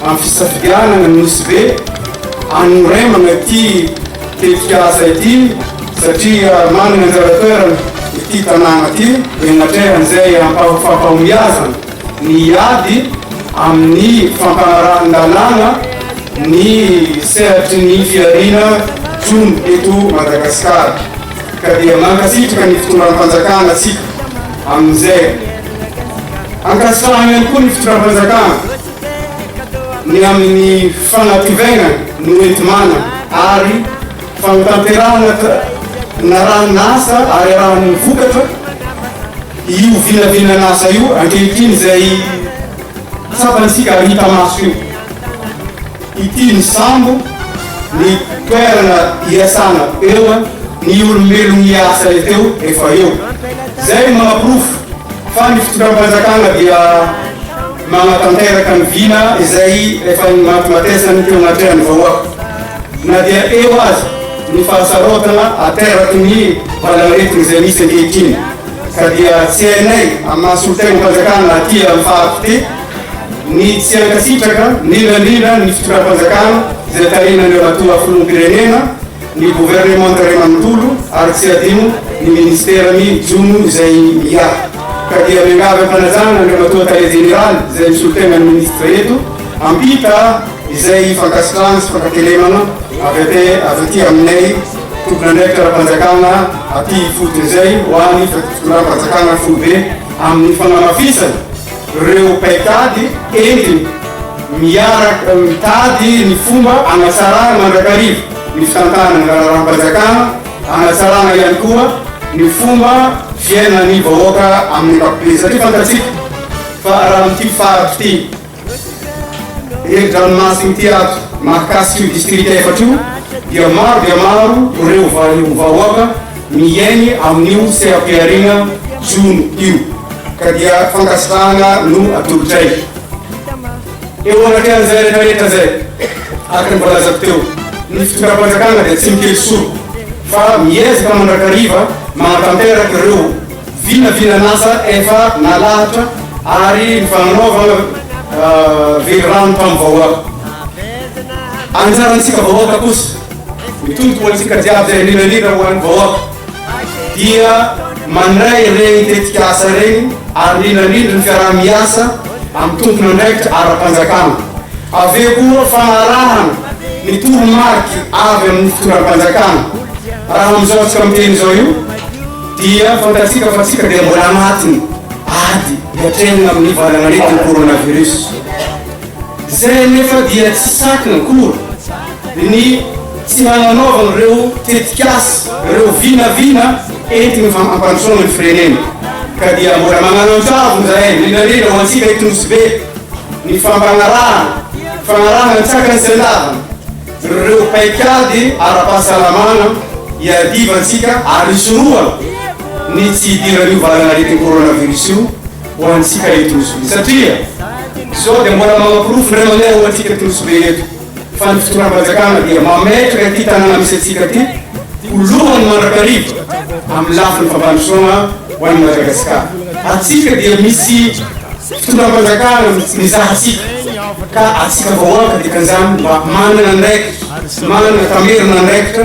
Amin'ny fisafidianana ny Nosy Be hanoraimana ity tetikasa ity satria manana anjara toerana ity tanàna ity dia natrehan'izay hampahofam-pahombiazana ny hiady amin'ny fampanarahan-dalàna ny sehatry ny fihariana jono eto Madagasikara ka dia mankasitraka ny fitondram-panjakana isika amin'izay. Ankasitrahana ihany koa ny fitondram-panjakana. ny amin'ny fanativaingana ny hoenti-manana ary fanotanterahana na ranon'asa ary arahan'ny vokatra io vinavinan'asa io ankehitriny izay tsapantsika ary hita maso io ity ny sambo ny toerana iasana eo ny olombelon'ny asa teo efa eo izay mahaporofo fa ny fitondram-panjakana dia Manatanteraka ny vina izay efa nimatimatesan'ny teo anatrehan'ny vahoaka, na dia eo aza ny fahasarotana ateraky ny valan'aretina izay misy ankehitriny, ka dia tsy hainay amin'ny maha solontenam-panjakana aty amin'ny faritra ity ny tsy hankasitraka indrindra indrindra ny fitondram-panjakana izay tarihin'Andriamatoa Filoham-pirenena, ny governemanta iray manontolo ary tsy adino ny ministera ny jono izay miahy ka dia miangavy am-panajana Andriamatoa Tale Jeneraly izay misolotena ny ministra eto ampita izay fankasitrahana sy fankatelemana avy ate avy aty aminay tomponandraikitra ara-panjakana aty ifotony izay ho any fitondram-panjakana foibe amin'ny fanamafisana Reo mpaitady entiny miaraka mitady ny fomba hanatsarana mandrakariva ny fitantanana ny raharahampajakana, hanatsarana ihany koa ny fomba fiainan'ny vahoaka amin'ny ankapobeny satria fantatsika fa raha amin'ity faritra ity herin-dranomasina ity ato mahakasika io distrika efatra io dia maro dia maro reo vahoaka Mihaino amin'io seha-pihariana jono io ka dia fankasitrahana no atolotray. Eo anatrehan'izay rehetra rehetra izay, araka ny voalazako teo, ny fitondram-panjakana dia tsy mikely soroka fa miezaka mandrakariva manatanteraka ireo vinavinan'asa efa nalahatra ary ny fanaovana velirano tamin'ny vahoaka. Anjarantsika vahoaka kosa. Ny tompo ho antsika jiaby izay mirirarira ho an'ny vahoaka dia mandray ireny tetikasa ireny ary mirirarira ny fiaraha-miasa amin'ny tompon'andraikitra ara-panjakana. Avy eo koa fanarahana ny toromarika avy amin'ny fitondram-panjakana. Raha amin'izao antsika miteny izao io dia fantatsika fa tsika dia mbola anatin'ny ady hiatrehana amin'ny valanaretin'ny coronavirus izay anefa dia tsy sakana akory. Ny tsy nananaovana ireo tetikasa, ireo vinavina entiny fa hampandrosoana ny firenena ka dia mbola magnanantavo izahay, indrindra indrindra ho antsika eto Nosy Be, ny fampanarahana, fanarahana ny tsakany sy andavany ireo paikady ara-pahasalamana iadivantsika ary hisorohana ny tsy hidiran'io valan'aretin'ny coronavirus io ho antsika eto Nosy Be satria izao dia mbola manaporofo indray mandeha ho antsika eto Nosy Be eto. fa ny fitondram-panjakana dia mametraka ity tanàna misy antsika ity ho lohany mandrakariva amin'ny lafiny fampandrosoana ho an'i Madagasikara. Antsika dia misy fitondram-panjakana mizaha antsika ka antsika vahoaka dikan'izany mba manana andraikitra, manana tamerin'andraikitra